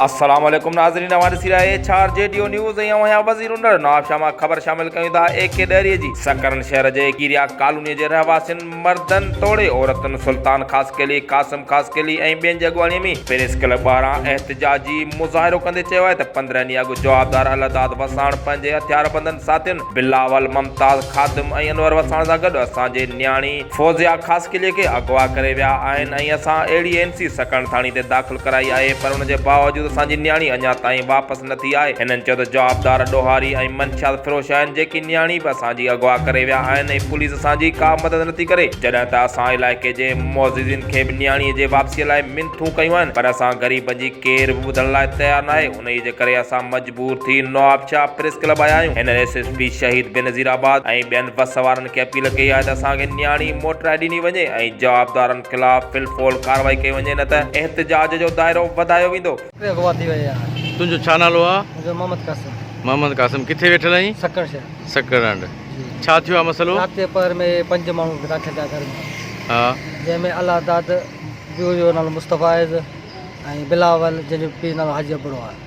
السلام عليڪم ناظرين اوهان ڏسي رهيا ايڇ آر جي ڊيو نيوز ۽ اوهان وزير انڊر نواب شاهه مان خبر شامل ڪيون ٿا اي ڪي ڏهري جي سڪرن شهر جي ڪيريا ڪالوني جي رهواسين مردن توڙي عورتن سلطان خاصخيلي قاسم خاصخيلي ۽ ٻين جي اڳواڻي ۾ پريس ڪلب ٻاهران احتجاجي مظاهرو ڪندي چيو آهي ته پندرهن ڏينهن اڳ جوابدار الله داد وساڻ پنهنجي هٿياربندن ساٿين بلاول ممتاز خادم ۽ انور وساڻ سان گڏ اسان جي نياڻي فوزيا خاصخيلي کي اغوا ڪري ويا آهن ۽ اسان اهڙي اين سي سڪڻ ٿاڻي تي داخل ڪرائي آهي پر ان جي باوجود اسان جي نياڻي اڃا تائين واپس نه ٿي آهي هنن چيو ته جوابدار ڏوهاري ۽ منشيات فروش آهن جيڪي نياڻي به اسان جي اغوا ڪري ويا آهن ۽ پوليس اسان جي ڪا مدد نه ٿي ڪري جڏهن ته اسان علائقي جي معززين کي به نياڻي جي واپسي لاء منٿون ڪيون آهن پر اسان غريبن جي ڪير به ٻڌڻ لاء تيار ناهي انهي جي ڪري اسان پور ٿي نوابشاهه پريس ڪلب آيا آهيون. هن S S P Shaheed Benazir آباد ۽ ٻين بس سوارن کي اپيل ڪئي آهي ته اسان کي نياڻي موٽرائي ڏني وڃي ۽ جوابدارن خلاف في الفعل ڪارروائي ڪئي وڃي نه ته احتجاج جو دائرو وڌايو ويندو. ڪيتري اغوا ٿي ويا آهن. تنهنجو ڇا نالو آ؟ منهنجو محمد قاسم. محمد قاسم ڪٿي ويٺل آهين؟ سکڻ شهر. سکڻ هنڊ ڇا ٿيو آ مسئلو؟ رات جي پهر ۾ پنج ماڻهو داخل ٿيا گهر ۾ ها. جنهن ۾ الله داد، پيء جو نالو مصطفيٰ آهي ۽ بلاول جنهن جو پيء جو نالو حاجي ابڙو آهي.